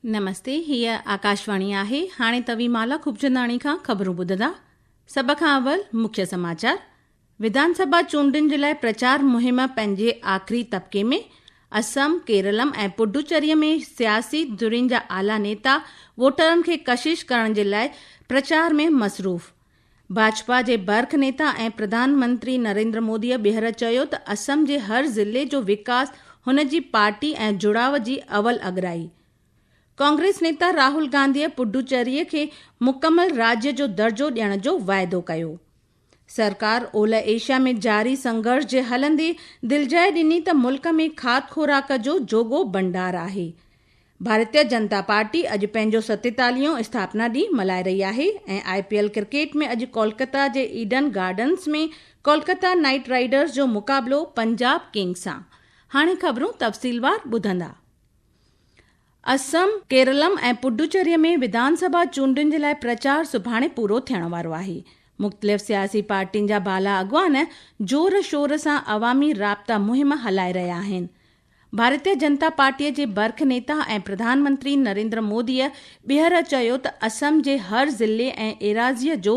نمستي هي آڪاشواڻي آهي هاڻي توي مالا خوبچنداڻي کان خبرون ٻڌندا سڀ کان اول مکيه سماچار وڌان سڀا چونڊن جي لاء پرچار مهم پنهنجي آخري طبقي ۾، اسم، ڪيرلم ۽ پڊوچري ۾ سياسي ڌرين جا اعليٰ نيتا ووٽرن کي ڪشش ڪرڻ جي لاء پرچار ۾ مصروف. ڀاجپا جي برک نيتا ۽ پرڌان منتري نريندر مودي ٻيهر چيو ته اسم جي هر ضلعي جو وڪاس هن جي پارٽي ۽ جڙاء جي اول اڳرائي. ڪانگريس نيتا راهول گانڌي پڊوچري کي مڪمل راڄ جو درجو ڏيڻ جو واعدو ڪيو. سرڪار اولهه ايشيا ۾ جاري سنگهرش جي هلندي دلجائي ڏني ته ملڪ ۾ کاڌ خوراڪ جو جوڳو ڀنڊار آهي. ڀارتيه جنتا پارٽي اڄ پنهنجو ستيتاليهون اسٿاپنا ڏينهن ملهائي رهي آهي ۽ آء پي ايل ڪرڪيٽ ۾ اڄ ڪولڪتا جي Eden Gardens ۾ Kolkata Knight Riders جو مقابلو پنجاب ڪنگز سان هاڻي خبرون تفصيلوار ٻڌندا. اسم، ڪيرلم ۽ پڊوچري ۾ وڌان سڀا چونڊن جي لاء پرچار سڀاڻي پورو ٿيڻ وارو آهي، مختلف سياسي پارٽين جا بالا اڳواڻ زور شور سان عوامي رابطا مهم هلائي رهيا آهن. ڀارتيه جنتا پارٽي جي برک نيتا ۽ پرڌان منتري نريندر مودي ٻيهر چيو ته اسم جي هر ضلعي ۽ ايراضيء جو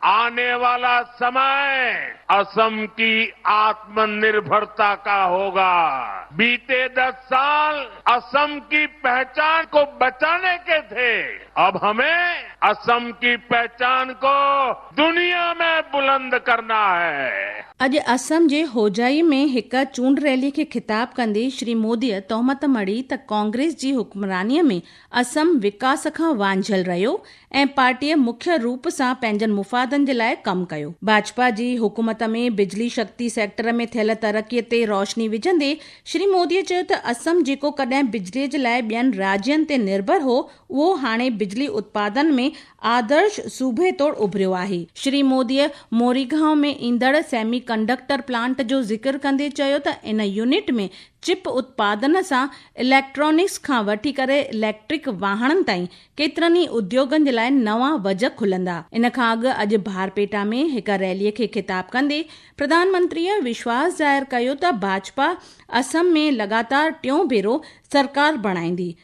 آني والا سماء اسم ڪي آتم نرڀرتا ڪا هوگا، بيتي دس سال اسم ڪي پهچان ڪو بچاني ڪي ٿي، اب همين اسم ڪي پهچان ڪو دنيا مين بلند ڪرنا هي. اڄ اسم جي هوجائي ۾ هڪ چونڊ ريلي کي خطاب ڪندي شري موديء تهمت مڙهي ته ڪانگريس جي حڪمرانيء ۾ اسم وڪاس کان وانجهيل رهيو ۽ پارٽيء مکيه روپ سان پنهنجن مفادن جي لاء ڪم ڪيو. ڀاجپا جي حڪومت ۾ بجلي شڪتي سيڪٽر ۾ ٿيل ترقيء تي روشني وجهندي شري موديء چيو ته اسم جيڪو ڪڏهن بجليء جي لاء ٻين راڄين تي نرڀر هو اهو هاڻي بجلي اتپادن ۾ آدرش صوبي طور اڀريو آهي. شري موديء موريگائون ۾ ايندڙ سيمي ڪنڊڪٽر پلانٽ جو ذڪر ڪندي چيو ته ان يونٽ ۾ چپ اتپادن سان اليڪٽرانڪس کان وٺي ڪري اليڪٽرڪ واهڻن تائين ڪيترن ئي اديوگن جي لاء نوان وجهه کلندا. ان کان اڳ اڄ بارپيٽا ۾ هڪ ريلي کي خطاب ڪندي پرڌان منتريء وشواس ظاهر ڪيو ته ڀاجپا اسم ۾ لڳاتار ٽيون ڀيرو سرڪار بڻائيندي،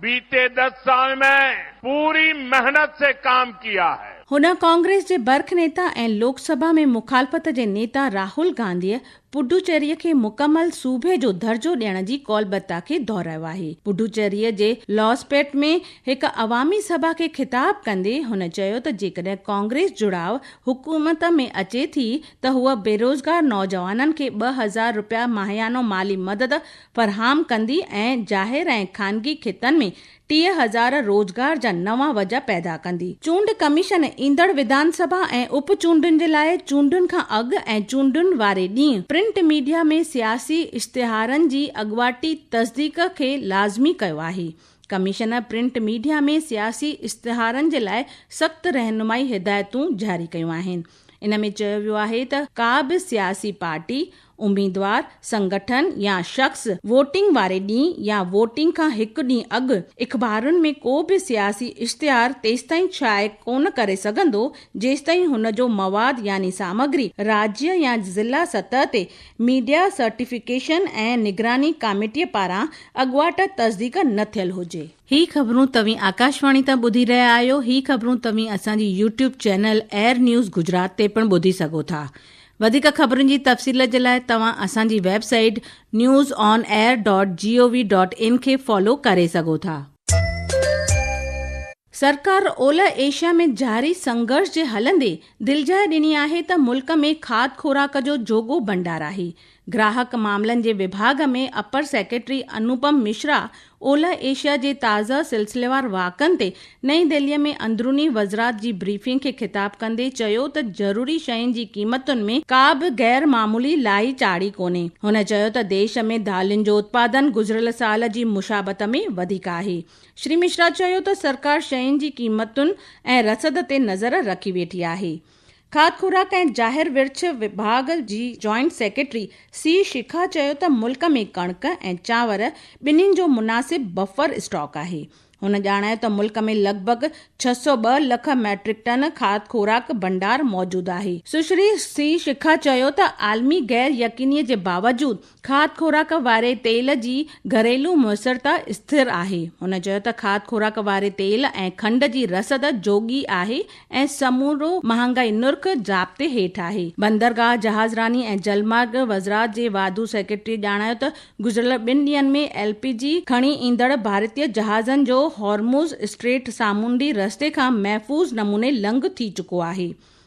بيتي دس سال مين پوري محنت سي ڪام ڪيا هي. هن ڪانگريس جي برک نيتا ۽ لوڪ سڀا ۾ مخالفت جي نيتا راهول گانڌيء پڊوچيريء کي مڪمل صوبي جو درجو ڏيڻ جي قولبتا کي دهرايو آهي. پڊوچيريء جي لاسپيٽ ۾ هڪ عوامي سڀا کي خطاب ڪندي هن چيو ته جيڪڏهن ڪانگريس جڙاء حڪومت ۾ اچي ٿي ته هوء بيروزگار نوجوانن کي ٻه هزار رپيا ماهيانو مالي مدد فراهم ڪندي ۽ ظاهر ۽ خانگي خطن ۾ ٽيهه هزار روزگار جا نوان وجهه پيدا ڪندي. چونڊ ڪميشن ايندڙ وڌانسڀا ۽ اپ چونڊن جي لاء چونڊن کان اڳ ۽ چونڊن واري ڏينهن پرنٽ ميڊيا ۾ سياسي اشتهارن جي اڳواٽي تصديق کي لازمي ڪيو آهي. ڪميشن پرنٽ ميڊيا ۾ سياسي اشتهارن جي لاء سخت رهنمائي هدايتون جاري ڪيون آهن. ان ۾ چيو ويو آهي ته ڪا به سياسي پارٽي، اميدوار، سنگٺن يا شخص ووٽنگ واري ڏينهن يا ووٽنگ کان هڪ ڏينهن اڳ اخبارن ۾ ڪو به سياسي اشتهار تيستائين شايع ڪونه ڪري سگهندو جيستائين هن جو مواد يعني سامگري راجيه يا ضلع سطح تي ميڊيا سرٽيفڪيشن ۽ نگراني ڪاميٽي پاران اڳواٽ تصديق نه ٿيل هجي. هي خبرون توهين آڪاشواڻي تان ٻڌي رهيا آهيو. هي خبرون توهين اسان جي YouTube channel Air News Gujarat تي پڻ ٻڌي سگهو ٿا. وڌيڪ خبرن جي تفصيل جي لاء توهان اسان جي website news on air dot G O V dot in کي فالو ڪري سگهو ٿا. سرڪار اولهه ايشيا ۾ جاري سنگهرش جي هلندي دلجاء ڏني آهي ته ملڪ ۾ کاڌ خوراڪ جو جوڳو ڀنڊار آهي، گراهڪ معاملن جي وڀاڳ ۾ اپر سيڪريٽري انوپم مشرا اولهه ايشيا جي تازه سلسليوار واقعن تي نئين دهلي ۾ اندروني وزرات جي بريفنگ کي خطاب ڪندي چيو ته ضروري شين جي قيمتن ۾ ڪا به غير معمولي لاهي چاڙهي ڪونهي. هن چيو ته ديش ۾ دالين جو اتپادن گذريل سال جي مشابهت ۾ وڌيڪ آهي. شري مشرا چيو ته سرڪار شين جي قيمتن ۽ رسد تي نظر رکي ويٺي آهي. کاڌ خوراڪ ۽ جاهر ورڇ وڀاڳ جي جوائنٽ سيڪريٽري سي شيخا چيو ته ملڪ ۾ ڪڻڪ ۽ چانور ٻنهين جو مناسب بفر اسٽاڪ آهي. هن ڄاڻايو ته ملڪ ۾ لڳ ڀڳ ڇهه سؤ ٻه لک ميٽرڪ ٽن کاڌ خوراڪ ڀنڊار موجود آهي. سشري سي شيخا چيو ته عالمي غير يقيني جي باوجود کاڌ خوراڪ واري تيل جي گهريلو موثرتا اسٿر آهي. هن چيو ته کاڌ خوراڪ واري تيل ۽ کنڊ جي رسد جوڳي آهي ۽ سمورو مهانگائي نرخ ضابطي هيٺ آهي. بندرگاهه، جهازراني ۽ جلمارگ وزرات جي واڌو سيڪريٽريء ڄاڻايو ته گذريل ٻن ڏينهن ۾ ايل پي جي کڻي ايندڙ ڀارتي جهازن جو هارموز اسٽريٽ سامونڊي رستي کان محفوظ نموني لنگهه ٿي چڪو آهي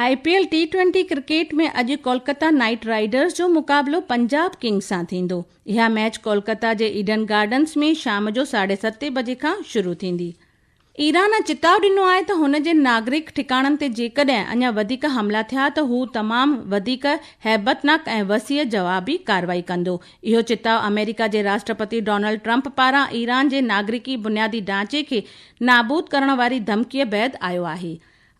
I P L T twenty cricket ۾ اڄ ڪولڪتا نائيٽ رائيڊرز جو مقابلو پنجاب ڪنگز سان ٿيندو. اها ميچ ڪولڪتا جي ايڊن گارڊنز ۾ شام جو ساڍي ستين بجي کان شروع ٿيندي. ايران چتاء ڏنو آهي ته هن جي ناگرڪ ٺڪاڻن تي جيڪڏهن اڃا وڌيڪ حملا ٿيا ته هو تمام وڌيڪ هيبتناڪ ۽ وسيع جوابي ڪارروائي ڪندو. اهو چتاء آمريڪا جي راشٽرپتي ڊونلڊ ٽرمپ پاران ايران جي ناگرڪي بنيادي ڍانچي کي نابود ڪرڻ واري ڌمڪيء بعد آيو آهي.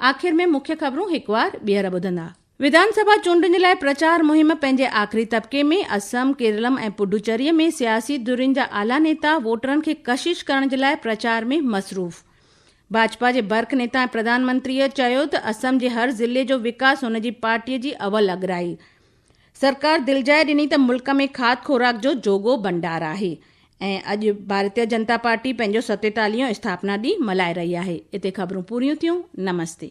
آخر ۾ مکيه خبرون هڪ وار ٻيهر ٻڌندا. وڌان سڀا چونڊن جي لاء پرچار مهم پنهنجي آخري طبقي ۾ اسم، ڪيرلم ۽ پڊوچري ۾ سياسي ڌرين جا اعليٰ نيتا ووٽرن کي ڪشش ڪرڻ جي لاء پرچار ۾ مصروف. ڀاجپا جي برک نيتا ۽ پرڌان منتريء چيو ته اسم جي هر ضلعي جو وڪاس هن جي پارٽيء جي اول اڳرائي سرڪار دلجاء ڏني ته ملڪ ۾ کاڌ خوراڪ جو جوڳو ڀنڊار آهي ۽ اڄ ڀارتيه جنتا پارٽي پنهنجو ستيتاليهون اسٿاپنا ڏينهن ملهائي رهي آهي. اتي خبرون پوريون ٿيون. نمستي.